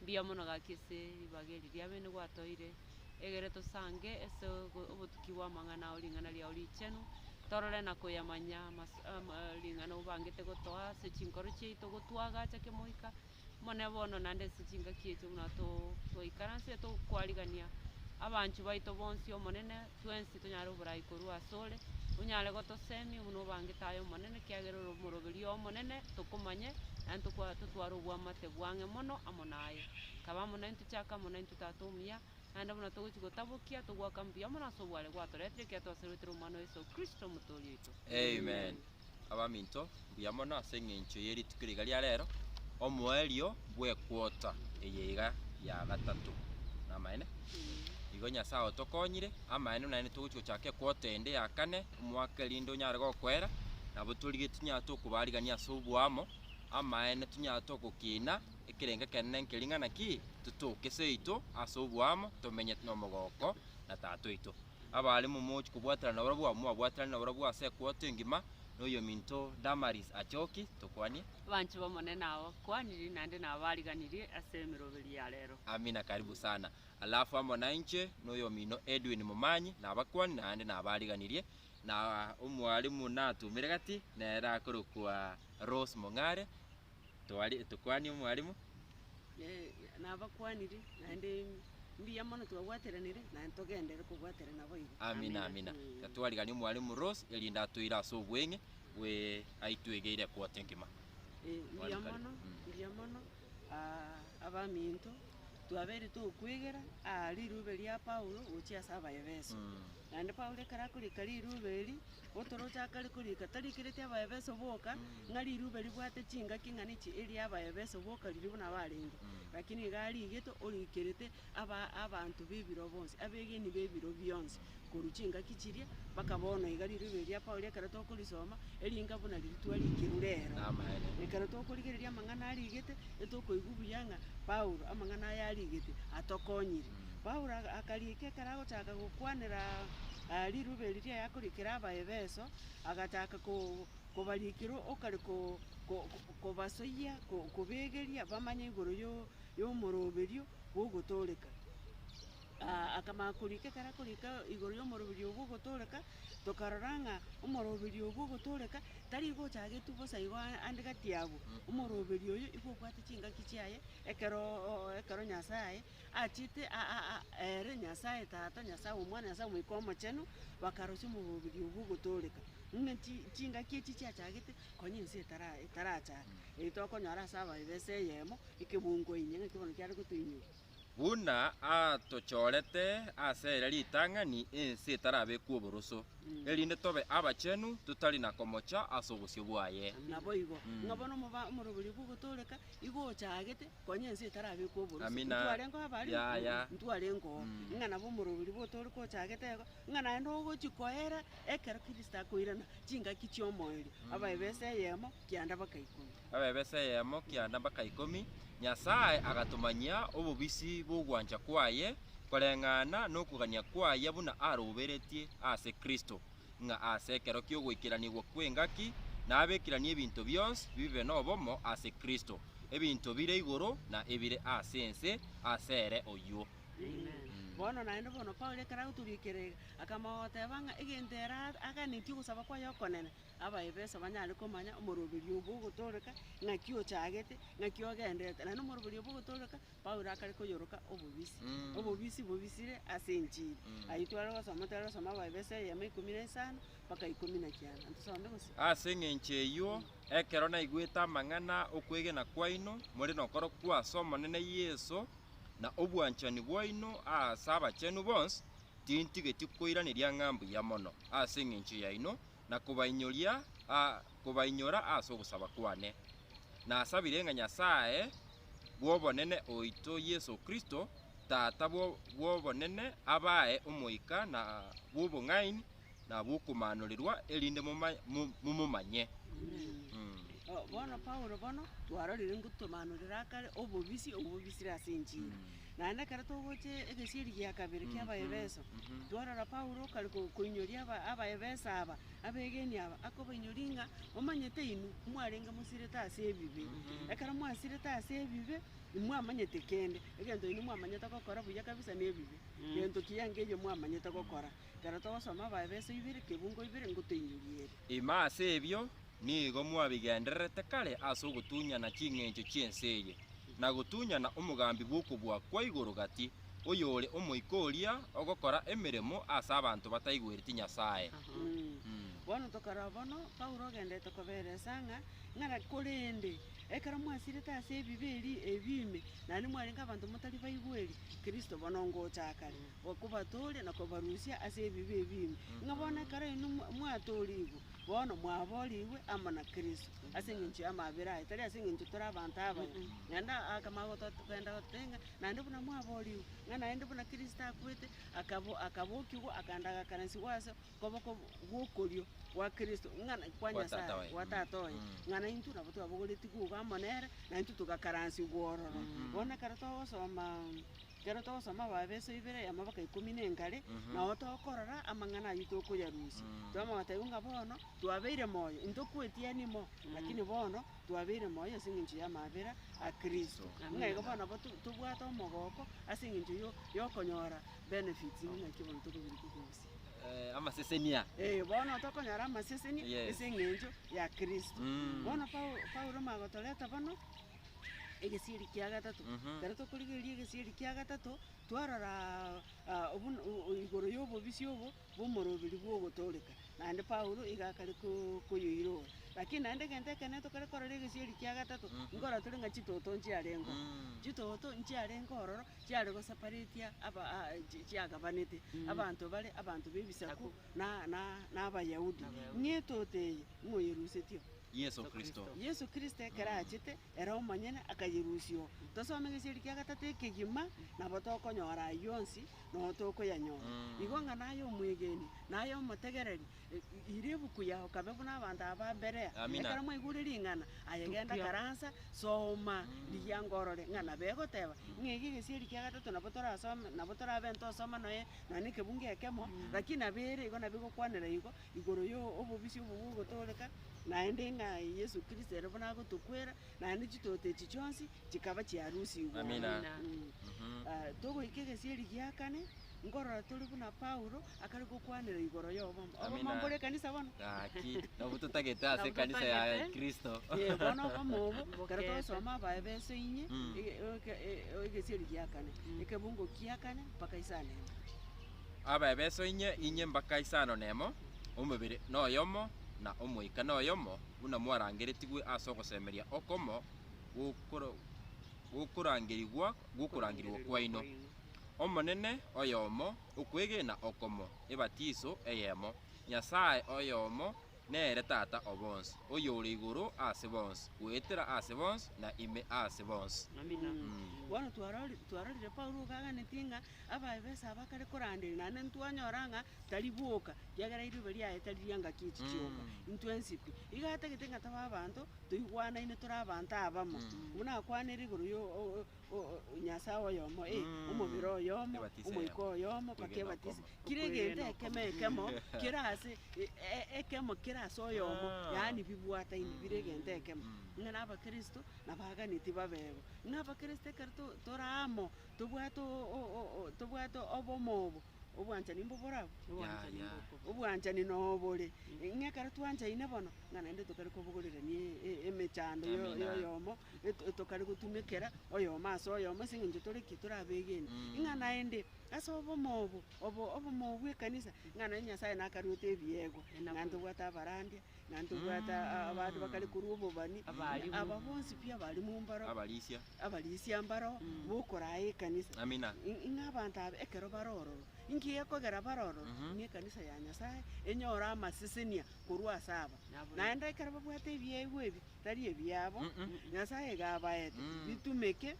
mbuya mono gaki ase ribaga eri ria bene gwatoire, egere tosange ase ogo obotuki bw'amang'ana ao ring'ana riao richenu, torore na koyamanya amas- ama ring'ana obangete gotoa ase chinkoro chiaito gotwagacha kemoika mone bono naende ase chingaki echo buna to- toikaransete tokwarigania abanchwa baito bonsi Omonene. Twensi tonyare oborai korwa asore, onyare gotosemia buna obangete aye Omonene, ekiagera ore omoroberio omonene, tokomanye, naende tokwa- totware obwamate bwang'e mono amo naye. Kaba amo naintwe, chaka amo naintwe, Tata omuya, naende buna togochia gotabokia, togwaka mbuya mono ase obware gwatoretire, ekiatwaseroretire Omwana o Yeso Kristo, Omotoori oito. Amen. Abaminto, mbuya mono ase engencho ye rituko riga ria rero, omoerio bw'equota eye iga ya gatato. Namaene? Igo Nyasae otokonyire, amaene buna naende togochi gochaka equota ende ya kane, omwaka erinde onyare gokoera, nabo torigetie tunyare tokobarigania ase oboamo, amaene tunyare togokina ekerenge ekenene nkeri ng'a naki, totoke seito ase oboamo, tomenye nomogooko na Tata oito. Abaare momochi kobwaterana nabarabwo abwo mobabwaterane nabarabwo ase ekwoto engima, na oyominto Damaris achoki, tokwanie. Abanche b'Omonene aba kwanirie naende na abariganirie ase emeroberi ya rero. Amina karibu sana. Alafu amo nainche na oyomino Edwin Momanyi nabakwani naende na abariganirie, na omwarimu natumire gati nere akorokwa Rose Mong'are, twari etokwania omwarimu. Ee, nabakwaniri, naende mbuya mono twabwateranire, naende togenderere kobwaterana boigo. Amina, amina. Mm. Ka twarigania omwarimu Rose, erinde atoire ase obweng'e bwe aitwegeire ekoti engima. Eh, mbuya Twari kare. mono Mm. mbuya mono ah, abaminto Twabeire tokwegera aa rirube ria Paulo gochia ase Abaefeso. Naende Paulo ekero akorika rirube eri, otoroche akare korika, tarikereti Abaefeso boka, ng'a rirube ribwate chingaki ng'a nichi eria Abaefeso boka riria buna barenge, lakini iga ariigete orikerete aba abanto b'ebiro bonsi, abegeni b'ebiro bionsi. korwa chingaki chiria, mpaka bono iga rirorio eria Paulo ekero tokorisoma, eringa buna ritwa rikirwe rero. Namaene. Ekero tokorigereria amang'ana arigete, etokoigwa buya ng'a Paulo amang'ana aya arigete atokonyire. Paulo aga- akariika ekero agochaka gokwanera aa riruba eri riaye akorikera Abaefeso, agachaka ko- kobarikera okare ko- ko- ko- kobasoyia ko- kobegeria bamanye igoro yo- yomoroberio bw'ogotooreka. akamanya korika ekero akorika igoro y'omoroberi obwo ogotooreka, tokarora ng'a omoroberi obwo ogotooreka, tari igo ochagetwe bosa igo aa- ande gati yabwo, omoroberi oyo igo obwate chingaki chiaye ekeroooo ekero Nyasaye achiete a- a- a ere Nyasaye Tata, Nyasaye Omwana, Nyasaye Omoika Omochenu, bakarosia omoroberi obwo ogotooreka. Ng'a chi chingaki echi chiachagete konya ense etara etarachaka, eyi tokonyora ase abaibisa eyemo, ekebungo inye ng'aki bono kiare gotoinyora. Buna atochorete ase ere ritang'ani ense etarabekwa oboroso, erinde tobe abachenu totari na komocha ase obosio bwaye. Naboigo, ng'a bono omoba- omoroberio bw'ogotooreka igo ochaagete, konya ense etarabekwa oboroso. Amina. Ntwarengeo abare? Yaya. Mm, Ntwarengeo. Mm. Ng'a nabo omoroberio bw'otooreka ochaagete igo, ng'a naende ogochi koera ekero Kristo akoirana chingaki chi'omoerio, abae b'esa eyemo, kianda baka ikomi. Babebesa eyemo kia nabaka ikomi, Nyasae agatomanyia obobisi bw'ogwancha kwaye koreng'ana nokogania kwaye buna aroberetie ase Kristo, ng'a ase ekero ki'ogoikeranigwa kw'engaki nabekiranie ebinto bionsi bibe nobomo ase Kristo, ebinto bire igoro na ebire ase ense ase ere oyio. Bono naende bono Paulo ekero agotoria ekerega, akamogoteeba ng'a egento ere aganetie ogosaba kwaye okonene, Abaefeso banyare komanya omoroberio obwo ogotooreka, ng'aki ochaagete, ng'aki ogenderete. Naende omoroberio obwo ogotooreka, Paulo akare koyoroka obobisi. Obobisi bobisire ase enchili. Ayio tware gosoma, tware gosoma Abaefeso eyemo ikomi na isano mpaka ikomi na kianda. Naende tusome gose. Ase engencho eyio, ekero naigwete amang'ana 'okwegena kwaino more nokorokwo ase Omonene Yeso, na obwanchani bwaino ase abachenu bonsi, tintigeti koiraneria ng'a mbuya mono ase engencho yaino, na kobainyoria kobainyora ase ogosaba kwane. Nasabire ng'a Nyasae bw'obonene oito Yeso Kristo, Tata bw'obonene, abae omoika na bw'obong'aini na bw'okomanorirwa, erinde momomanye. Bono Paulo bono twarorire ngotomanorera akare obobisi obwo bobisire ase enchili. Naende ekero togocha egesieri gia kabere kia Abaefeso, twarora Paulo okare koinyoria Abaefeso aba, abegeni aba, akobainyoria ng'a, Momanyete inwe mwarenge mosirete ase ebibe. Ekero mwasirete ase ebibe, imwamanyeti kende. Egento inwe mwamanyete gokora buya kabisa nebibe. Gento kiya nkeiyo mwamanyete gokora. Ekero togosoma Abaefeso ibere, kebungo ibere, ngotoinyorie ere. Ime ase ebio, Nigo mwabigendererete kare ase ogotunyana ching'encho chi'ense eye, na gotunyana omogambi bw'okobua kwa igoro gati, oyore omoika oria ogokora emeremo ase abanto bataigwereti Nyasae. Bono tokarora bono Paulo ogenderete koberesa ng'a ng'ana, korende ekero mwasirete ase ebibe eria ebi ime, naende mwarenge abanto motari baigweri, Kristo bono ngocha akare, kobatooria na kobarusia ase ebibe ebi ime, ng'a bono ekero inwe mwatoorigwe, Bono mwaboorigwe amo na Kristo ase engencho y'amabera aye, tari ase engencho tore abanto abaya. Naende akamanya gotogenda gototebia ng'a naende buna mwaboorigwe, ng'a naende buna Kristo akwete, akabo- akabokiwa, akaenda agakarasigwa ase okoboko gw'okorio gwa Kristo, ng'a na- kwa Nyasae, Tata oye. gwa Tata oye. Ng'a naintwe nabo twabogoretigwe igo amo nere, naintwe togakaransigwa ororo. Bono ekero togosoma. ekero togosoma Abaefeso ibere eyemo mpaka ikomi na engare, nao tokorora amang'ana ayio tokoyarusia, twamanya gotebiwa ng'a bono twabeire moyo, intokwetigani mo, lakini bono twabeire moyo ase eng'encho y'amabera a Kristo. Ng'a igo bono nabo to- tobwate omogooko ase eng'encho yo- yokonyora benefits buna eki bono tokobirekwa kogosia. Eh, amasesenia. Eh, bono tokonyora amaseseni Yes. ase eng'encho ya Kristo. Mm. Bono Pau- Paulo magotoreta bono. egesieri kia gatato. Mhm. Ekero tokorigereria egesieri kia gatato, twarora ah, obuna- o- o- igoro y'obobisi obo bw'omorobiri bw'ogotooreka, naende Paulo iga akare ko- koyoiroka. Lakini naende egento ekenene tokare korora egesieri kia gatato, Mhm. nkorora tore ng'a chitoto nchiarengeo. Mm. Chitoto nchiarenge ororo chiare gosaparatia aba ah, chi- chiagabanete, Mm. abanto bare abanto b'ebisaku Saku. na- na- na Abayahudi. N'Abayahudi. Ng'a etoto eye moyerusetio, Yeso Kristo. Yeso Kristo ekero achete, ere omonyene akayerusia oo. Tosome gesieri kia gatato ekegima, nabo tokonyora ayio onsi, na oo tokoyanyora. Igo ng'a naye omwegeni, naye omotegereri, ira ebuku yao kabe buna abanto aba ba Berea. Amina. Ekero mwaigure ring'ana, aye genda karansa, soma rigiango orore ng'a nabo egoteba. Ng'a ege gesieri kia gatato nabo torasome, nabo torabe ntosoma noe, nonya na ekebungo ekemo, lakini nabo ere igo nabo egokwanera igo, igoro yo obobisi obo bogotooreka, naende ng'a Yeso Kristo ere buna agotokwera, naende chitooto echi chionsi chikaba chiarusigwe. Amina. Amina. Mm. Ah, togoika egesieri gia kane, nkorora tore buna Paulo akare gokwanera igoro y'obomba. Obomba Amina. mbore ekanisa bono? Gaki, nabo totagete ase Nabo ekanisa ya totagete. Kristo. Eh, bono oboma obo, ekero Bokete. twagosoma abae b'ense inye, Mm. ege- eke- e- egesieri gia kane, ekebungo kia kane, mpaka isano ime. Abaebeso inye, inye mbaka isano nemo, omobere noyomo, na Omoika noyomo, buna mwarangeretigwe ase ogosemeria okomo gw'okorangerigwa gw'okorangirigwa kwaino. Omonene oyomo, okwegena okomo, ebatiso eyemo, Nyasae oyomo nere Tata o bonsi, oyore igoro ase bonsi, goetera ase bonsi, na ime ase bonsi. Amina. Bono twarorire Paulo ogo aganetie ng'a Abaefeso aba kare koranderia, naende ntwanyora ng'a tari boka, ekiagera eriuba riaye tari ri'engaki echi chiongo, intwe nsibwi. Igo atagete ng'a tobe abanto toigwanaine tore abanto abamo, buna akwanire igoro yo o- o- o- Nyasae oyomo, ee, omobere oyomo, Ebatisa omoika eyemo, oyomo, mpaka okwegena ebatisa. okomo. Kera egento ekemo ekemo kere ase e- e- ekemo kere ase oyomo, Ah. yaani bibwataine bire egento ekemo. Ng'a na abakristo nabaaganetie babe igo. Ng'a abakristo ekero to- tore amo, Tobwate tobwate obomo obo, obwanchani mbobore abwo? Obwanchani Yaya. mbokobua. Obwanchani nobore, ng'a ekero twanchaine bono, ng'a naende tokare kobogorirania e- e- emechando yo- Emenano. yoyomo, eto- etokare gotumekera oyomo ase oyomo ase eng'encho tore ki? Tore abegeni. Mm. Ng'a naende, ase obomo obo, obo obomo bw'ekanisa, ng'a naende Nyasaye nakaruete ebiegwa, Enaku ng'a eye. ntobwate abarandia, Na ntobwate abanto bakare korwa obobani, na aba bonsi pi abarimo mbaro, abarisia, abarisia mbaro bokoraa ekanisa. Amina. Ng'a abanto aba ekero bare ororo, inki gekogera bare ororo? Ng'a ekanisa ya Nyasae enyore amasesenia korwa ase aba. Naende ekero babwate ebiegwa ebi, tari ebiabo, Nyasae iga abaete, bitumeke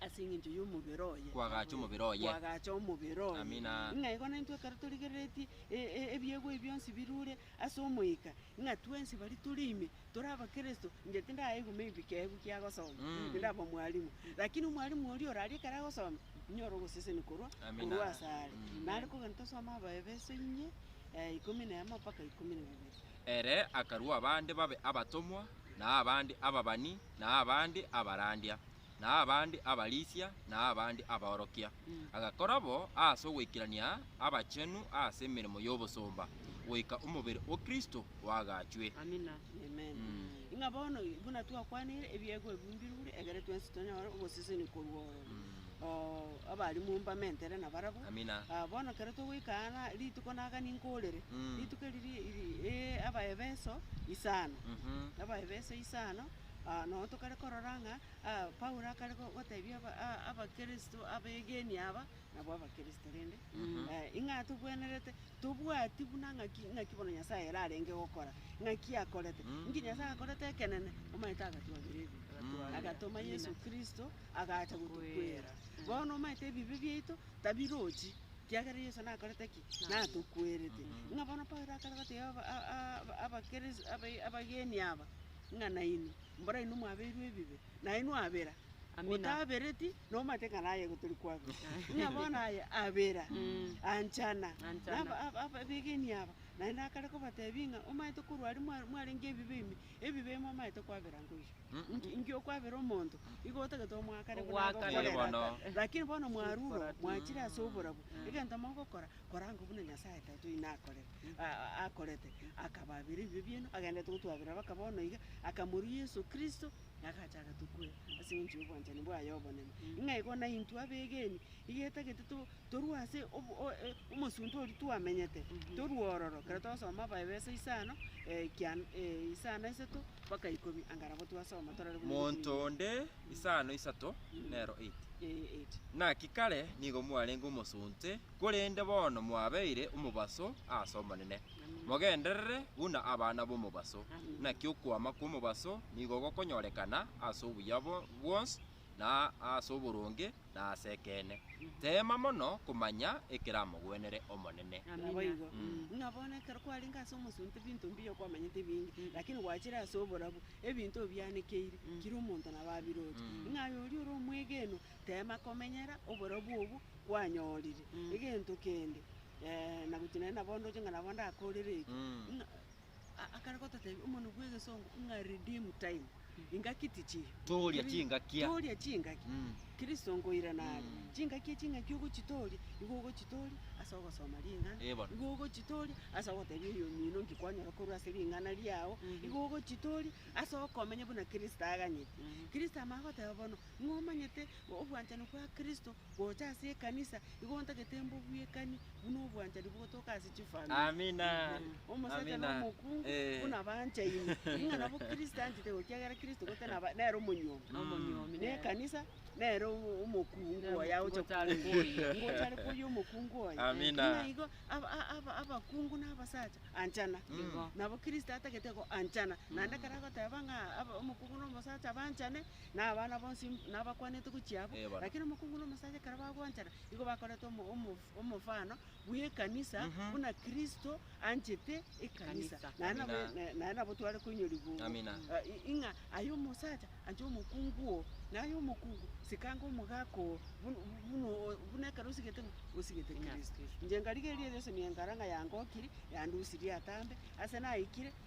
Ase engencho y'omobere oye. Kwagacha omobere oye. Kwagacha omobere oye. Amina. Ng'a igo naintwe ekero torigereretie e- e- ebiegwa ebi bionsi birure ase Omoika, ng'a twensi baria tore ime tore Abakristo, inche tindaigwa maybe keegwa kiagosoma, Mm. tindaba mwalimu, lakini omwalimu oria oraria ekero agosoma, inyore ogosesenia korwa Amina. korwa ase are. Mm. Nare kogenda tosome Abaefeso inye, eh, ikomi na emo mpaka ikomi na bibere. Ere akarua abande babe abatomwa, na abande ababani, na abande abarandia, na abande abarisia, na abande abaorokia, agakora bo aase ogoikerania abachenu aase emeremo y'obosomba, goika omobere o Kristo oagachwe. Amina. Amen. Ng'a bono, buna twakwanire, ebiegwa ebibumbirwe ire, egere twensi tonyore ogosesenia korwa oo oo abare momba mentere nabarabwo. Amina. Ah, bono ekero togoika aa na rituko naga ninkoorere, Mm. rituko eri ri- ri- ri- ee, Abaefeso isano. Mhm. Abaefeso isano, Nonya tokare korora ng'a Paulo akare gotebia Abakristo abegenwa aba nabwo Abakristo rende, ing'aa togwenerete, tobwati buna ng'aki bono Nyasae ere arenge gokora, ng'aki akorete. Inki Nyasae akorete ekenene? Omanyete agatwabera ebibe, agatoma Yeso Kristo agacha gotokwera. Bono omanyete ebibe biaito tabirochi, ekiagera Yeso nakorete ki? Natokwerete. Ng'a bono Paulo akare gotebia Abakristo abegeni aba. ng'a nainwe mborainwe mwabeirwe ebibe, nainwe abera, otabereti, nomanyete ng'a naye igo tori kwabera. Ng'a bono aye abera, anchana, abegeni aba, naende akare kobatebia ng'a omanyete korwa aria mwa- mwarenge ebibe ime, ebibe ime omanyete kwabera nkoiyo. Inki- inki okwabera omonto, igo otagete omoakare buna Ogoakana. agokorera Kere bono. ata. Lakini bono mwarure oo, mwachire ase oborabu, egento mogokora, koranga buna Nyasae Tata oino akorete. akorete, akabaabera ebibe biaino, agenderete gotwaberera baka bono iga, akamoria Yeso Kristo, na agacha agatukwera, ase engencho y'obwanchani bwaye obonene. Ng'a igo naintwe abegeni, iga etagete to- torue ase obo- o- e- omosunte oria twamenyete, torue ororo, ekero twasoma Abaefeso isano, ekian- e- isano isato, mpaka ikomi, anga nabo twasoma torore buna ebikumia Monto bibere. onde, isano isato, nero eight. Ee, eight. Naki kare nigo mwarenge omosunte Korende bono mwabeire omobaso ase Omonene, mogenderere buna abana b'omobaso. Naki okwama kw'omobaso nigo gokonyorekana ase obuya bwonsi, na ase oboronge, na ase ekeene. Teema mono komanya ekeramogwenere Omonene. Naboigo. Ng'a bono ekero kwarenge ase omosunte ebinto mbiya okwamanyete binge, lakini gwachire ase oborabu, ebinto obianekeire, kera omonto nabo abiroche. Ng'a aye oria ore omwegenwa, teema komenyera oborabu obwo, kwanyorire egento kende, ee, na gochia naende nabo ndoche ng'a nabo ndakoreretie, Mm. ng'a a- akare gototebia omonwe bw'egesongo ng'a redeem time, ingaki tichiyo. Tooria Kiri- chingakia. Tooria chingaki. Mm. Kristo nkoira nare. Mm. Chingaki echi ng'aki ogochitooria, nigo ogochitooria ase ogosoma ring'ana, Ee bono. nigo ogochitooria ase ogotebia oyomino nki kwanyora korwa ase ring'ana riao, Mhm. nigo ogochitooria ase okomenya buna Kristo aganyete. Mhm. Kristo amangoteba bono, ng'omanyete obwanchani bwa Kristo, Gocha ase ekanisa, igo ntagete mbobwekani buna obwanchani bogotoka ase chifamiri. Amina. Omosacha na Amina. omokungu Eh. buna banchaine, ng'a nabo Kristo anchete igo, ekiagera Kristo gotari naba- nere omonyomi. Omonyomi nere. Nekanisa nere omo- omokungu Nere oye agocha omokungu otari koyia. Nigo otari koyia omokungu oye. Amina. Ng'a igo aba- a- aba- abakungu na abasacha anchana. Igo. Nabo Kristo atagete igo anchana. Naende ekero agoteba ng'a aba- omokungu na omosacha banchane, na abana bonsi nabakwanete gochia abwo, Eh, bono. lakini omokungu na omosacha ekero bagwanchana, igo bakorete omo- omo- omofano bw'ekanisa, buna Kristo anchete ekanisa. Ekanisa. Naye nabo- Amina. na- naye nabo tware koinyorigwa obo. Amina. Ah, i- ing'a aye omosacha anche omokungu oo, na aye omokungu sikanga omogaka oo, bun- buna o- buna ekero osigete ng'a osigete Ing'a Kristo. Kristo. Inche ngarigereria rionsi nigo nkara ng'a yangokiri, yandusirie atambe, ase naikire,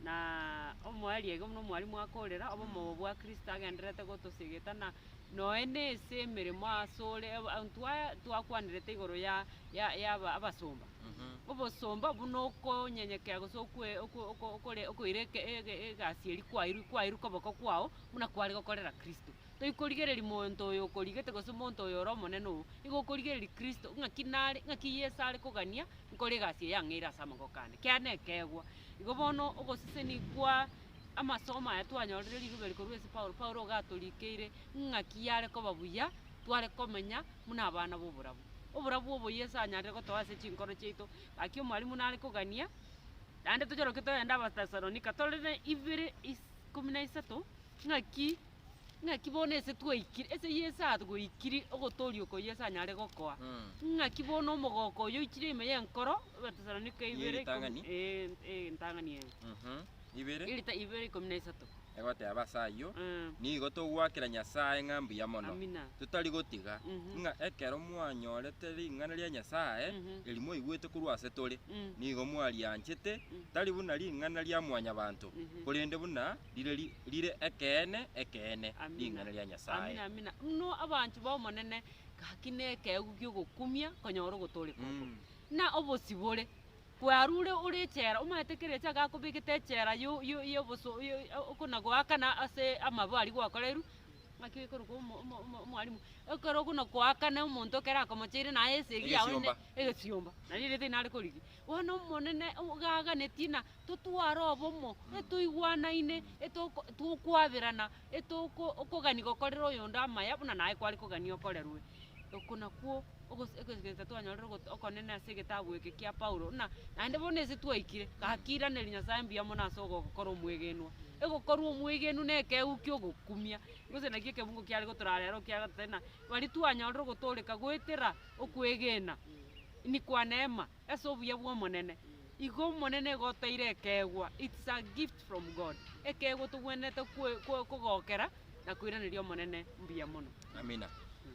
Na omoyo ariage buna omwarimu akorera, obomogo bwa Kristo agendererete gotosegeta, na noe nase emeremo asore, aba- abwo twa- twakwanerete igoro ya- ya- ya aba- abasomba. Obosomba buna okonyenyekea gose okwe- okwe- okwe- okore- okoira eke- ege- egasi eria kwairwe kwairwe koboko kwao, buna kware gokorera Kristo. Toikorigereria monto oyo okorigete gose monto oyo ore omonene oo, igo okorigereria Kristo, ng'aki nare, ng'aki Yeso are kogania nkore egasi eye ang'eire ase amaboko ane. Kera nekeegwa. Igo bono ogoseseni kwa amasomo aya twanyorire rirobe eri korwa ase Paulo, Paulo iga atorikeire ng'aki yare koba buya tware komenya buna abana b'oborabu. Oborabu obo Yeso anyarire gotoa ase chinkoro chiaito, gaki omwalimu nare kogania, naende tochoroke togende Abatesalonika, torore ibere is- ikomi na isato, ng'aki. Ng'aki bono ase twaikire, ase y'esaa twaikire ogotooria oko Yeso anyare gokoa, ng'aki bono omogoko oyo oichire ime y'enkoro, Abatesalonike ibere ikomi- Y'eritang'ani? eh, eritang'ani eye, Mhm, ibere, erita- ibere ikomi na isato. egoteba ase ayio, Eh, Nigo togwakera Nyasae ng'a mbuya mono, amina. totari gotiga Mhm. ng'a ekero mwanyorete ring'ana ria Nyasae, Mhm. eri mwaigwete korwa ase tore, Mm, nigo mwarianchete, mm, tari buna ring'ana ria mwanyabanto, Mhm. korende buna rire ri- rire ekeene ekeene, Amina. ring'ana ria Nyasae. Amina, amina. Mno abanchwa b'Omonene, gaki nekeegu gi'ogokumia konyora ogotooreka oko. Mm. Na obosibore, kwarure ore echela, omanyete kera echaaka akobegete echela yo- yo- yoboso- yo- yo- okona goakana ase amabo aria gwakoreirwe, naki ekorokwa omo- omo- omo- omwalimu, ekero okona koakana omonto ekero akomocheire naye esegi yago ne- Egesiomba. egesiomba, nari eriogo tinare korigia. Bono Omonene o- gaganetie na totware obomo, etoigwanaine, etoko tokwaberana, etoko okogani gokorera oyonde amaya buna naye kware kogania okorerwe. Oko nakwo ogose egegensa twanyorire ogot okonene ase egetabu eke kia Paulo, buna naende bono ase twaikire, gaki iraneria Nyasaye mbuya mono ase ogokora omwegenwa. Egokorwa omwegenu na ekegeu kia ogokumia, gose naki ekebungo kiare gotorara ero ekiagera totari na, baria twanyorire ogotoreka goetera okwegena, inikwa neema. Ase obuya bw'Omonene, igo Omonene igo oteire ekeegwa, it's a gift from God, ekeegwa togwenerete kogokera na koiraneria Omonene mbuya mono. Amina.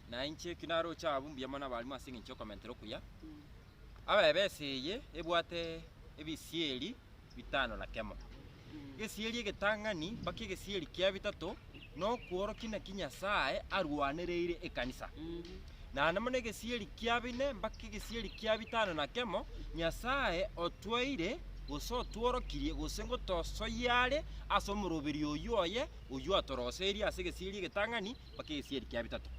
Na inche eki naroche abwo mbuya mono abarimo ase engencho y'okomentera okuya. Abebesa eye ebwate ebisieri. bitano na kemo, gesieri egetang'ani mpaka egesieri kia bitato, na okworokia naki Nyasae arwanereire ekanisa. Naende buna egesieri kia bine mpaka egesieri kia bitano na kemo, Nyasae otwaire, gose otworokirie, gose ngotosoyia are ase omoroberi oyio oye, oyio atoroserie ase egesieri egetang'ani mpaka egesieri kia bitato.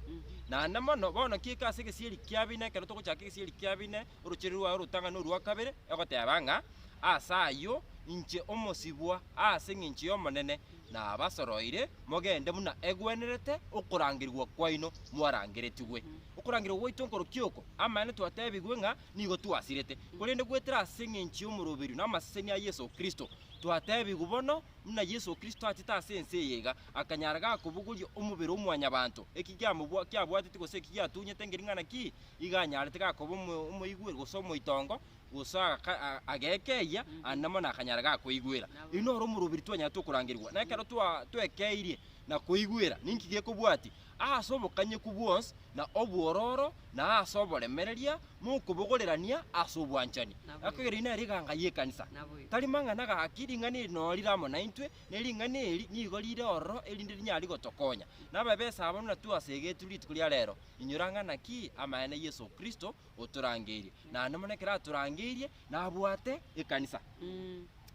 Naende mono, bono kiika ase egesieri kia bine, ekero togochaka egesieri kia bine, orochereria rwaye orotang'ani orwa kabere, egoteba ng'a, Ase ayio, inche omosibwa ase engencho y'Omonene, nabasoroire mogende buna egwenerete okorangerigwa kwaino mwarangeretigwe. Okorangerigwa gwaito nkorokio oko? Amaene twatebigwe ng'a nigo twasirete, korende goetera ase engencho y'omoroberio na amaseseni a Yeso Kristo. Twatebigwe bono buna Yeso Kristo achete ase ense eye iga, akanyara gakobogoria omobere o mwanyabanto, eki giamobwa kiabwateti gose eki giatunyete ngering'ana ki? igo anyarete gakoba omo- omoigweri gose omoitongo, gose agaka- a- agekeyia, aande mono akanyara gakoigwera. Oyio noro omoroberi twanyarete okorangerigwa. Na ekero twa- twekeirie na koigwera, ninki gekobwatia? Aase obokanyeku bwonsi, na obwororo, na aase oboremereria, mokobogorerania ase obwanchani. Nabo Aka erio nere eganga y'ekanisa. Nabo igo. Tari mang'ana gaki, ring'ana eri noro rire amo naintwe, na ering'ana eri nigo rire ororo erinde rinyare gotokonya. Nababesa abana na twasegete rituko ria rero, Inyora ng'ana ki amanyene Yeso Kristo otorangeirie, naende mono ekero atorangeirie nabwate ekanisa.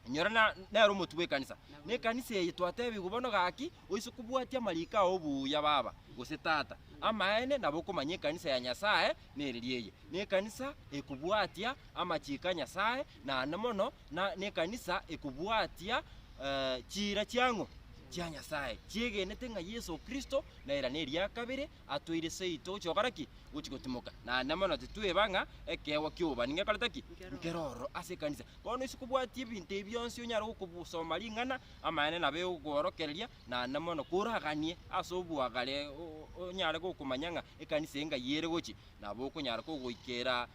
Inyora na- nere omotwe bw'ekanisa. Nekanisa eye twatebigwa bono gaki, oise kobwatia amariko ao buya baba, gose tata. Amaene nabo okomanya ekanisa ya Nyasaye neriria eye. Nekanisa ekobwatia amachiko a Nyasaye, naende mono na nekanisa ekobwatia eh, chiira chiang'u chia Nyasaye, chiegenete ng'a Yeso Kristo nere neriakabere atoire seito gochia gokora ki? Gochia gotimoka. Naende mono titweba ng'a ekeegwa ki'obani ngekorete ki? Nkere ororo ase ekanisa. Bono ise kobwatia ebinto ebi bionsi onyare gokobusoma ring'ana, amaene nabo egokoorokereria naende mono koraganie ase oboagare onyare gokomanya ng'a ekanisa engayi ere gochia nabo okonyara kogoikera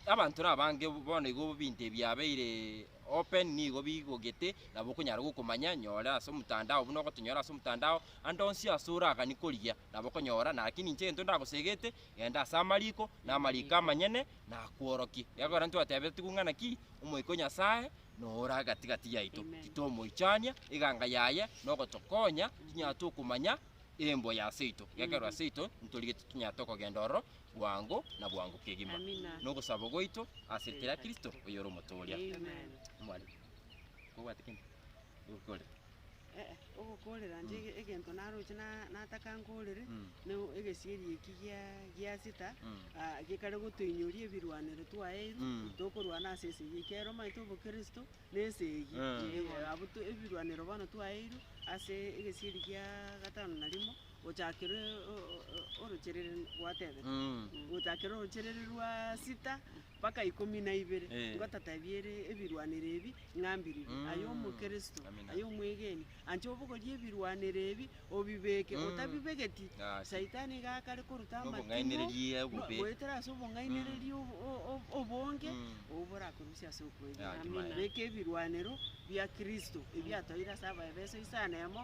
abanto nabange bono igo ebinto ebi biabeire open nigo bigogete nabo okonyara gokomanya nyore ase omotandao buna ogotonyora ase omotandao. Ande onsi ase oragani korigia nabokonyora, naki ninche egento ndagosegete, genda ase amariko, na amariko amanyene nakworokie. Ekiagera ntwateebete tigwe ng'ana ki, Omoika o Nyasae noora gati-gati yaito, titomoichania, eganga yaye nogotokonya tinyare tokomanya emboyo aseito, ekiagera aseito ntorigete tonyare tokogenda ororo bwango na bwango kegima, na ogosaba gwaito ase rieta ria Kristo, oyore Omotooria. Mwarimu, kobwate kende, gokore. eh, ogokoorera inche ege- egento naroche na- nataka nkoorere, Mm. na egesieri eki gia- gia sita, Mm. ah, gekare gotoinyoria ebirwanero twaye ebi, Mm. tokorwana ase ense eye, ekero omanyete obokristo, na ense eye. Ah. Eh, abwo to- ebirwanero bono twaeirwe ase egesieri gia gatano na rimo, gochakere o- o- o- orocherere gwatebete. Mm. Gochakere orocherere rwa sita, mpaka ikomi na ibere, Eh. ngotatebia ere ebirwanero ebi ng'a mbiriri. Mm. Aye Omokristo, Amina. aye omwegeni, ancha obogorie ebirwanero ebi obibeke. Mm. Otabibegeti, Gasi. Saitani iga akare koruta amatimo, Nobong'ainereria no- obobe. goetera ase obong'ainereria ob- o- o- obonge, Mm. obwo borakorusie ase okwegena. Gati, Amina. maene. Beka ebirwanero bia Kristo, ebiatoeire ase abaefeso isano emo,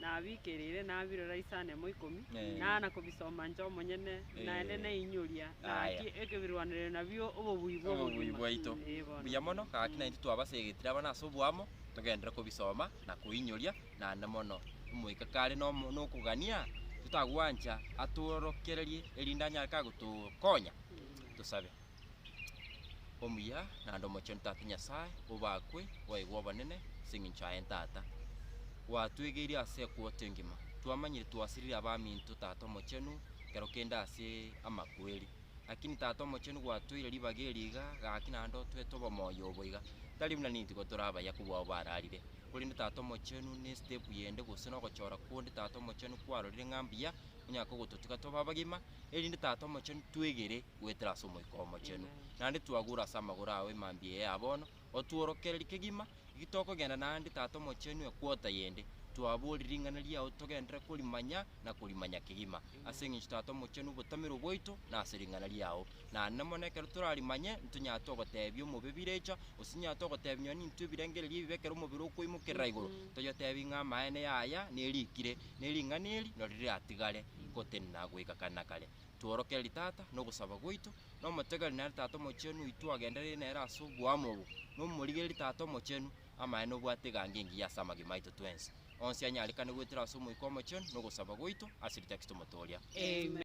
nabikereire nabirora ase anemo ikomi, Eh. naana kobisoma inche omonyene, Eh. naende nainyoria Aya. gaki ekebirwanererio nabio obobui bwa Obobui obogima. bwaito. Eh, bono. Buya mono, gaki naintwe twabaseegetire abana ase oboamo, togenderere kobisoma na koinyoria, naende mono omoika kare nomo- nokogania, totagwancha atworokererie erinde anyare kagotokonya. Tosabe. omuya naende omochenu Tata Nyasae, obakwe bwaigwa obonene ase engencho yaye Tata. Gwatwegeirie ase ekwoto engima, twamanyire twasiriri abaminto Tata Omochenu ekero kende ase amakweri. Lakini Tata Omochenu gwatoire ribaga eri iga gaki naende otwete obomoyo obo iga, tari buna ninto igo tore abaya kobwao bararire, korende Tata Omochenu ne step yende gose na ogochora kwonde Tata Omochenu kwarorire ng'a mbuya, onyare kogototiga tobe abagima, erinde Tata Omochenu twegere goetera ase Omoika Omochenu, naende twagure ase amagoro ao emambia eye ya bono, otworokererie kegima gaki tokogenda naende Tata Omochenu ekwota yende, twaborie ring'ana riao togenderere korimanya na korimanya kegima, ase engencho Tata Omochenu obotamerwa bwaito nase ring'ana riao, na nene mono ekero torarimanye ntonyare togoteebia omobe birecha, gose tonyare togoteebia nonya nintwe ebirengererio ebibe ekero omobere okoimokerera igoro, toyotebie ng'a amaene yaya nerikire, ne ring'ana eri nari riratigare gotenena goika kare na kare. tworokererie tata nogosaba gwaito, na omotegererie nere Tata Omochenu oito twagendereire nere ase oboamo obo, na omorigererie Tata Omochenu amaene obwate egango engiya ase amagima aito twensi, onsi anyarekane goetera ase Omoika Omochenu nogosaba gwaito ase ritakitomotoria. Amen.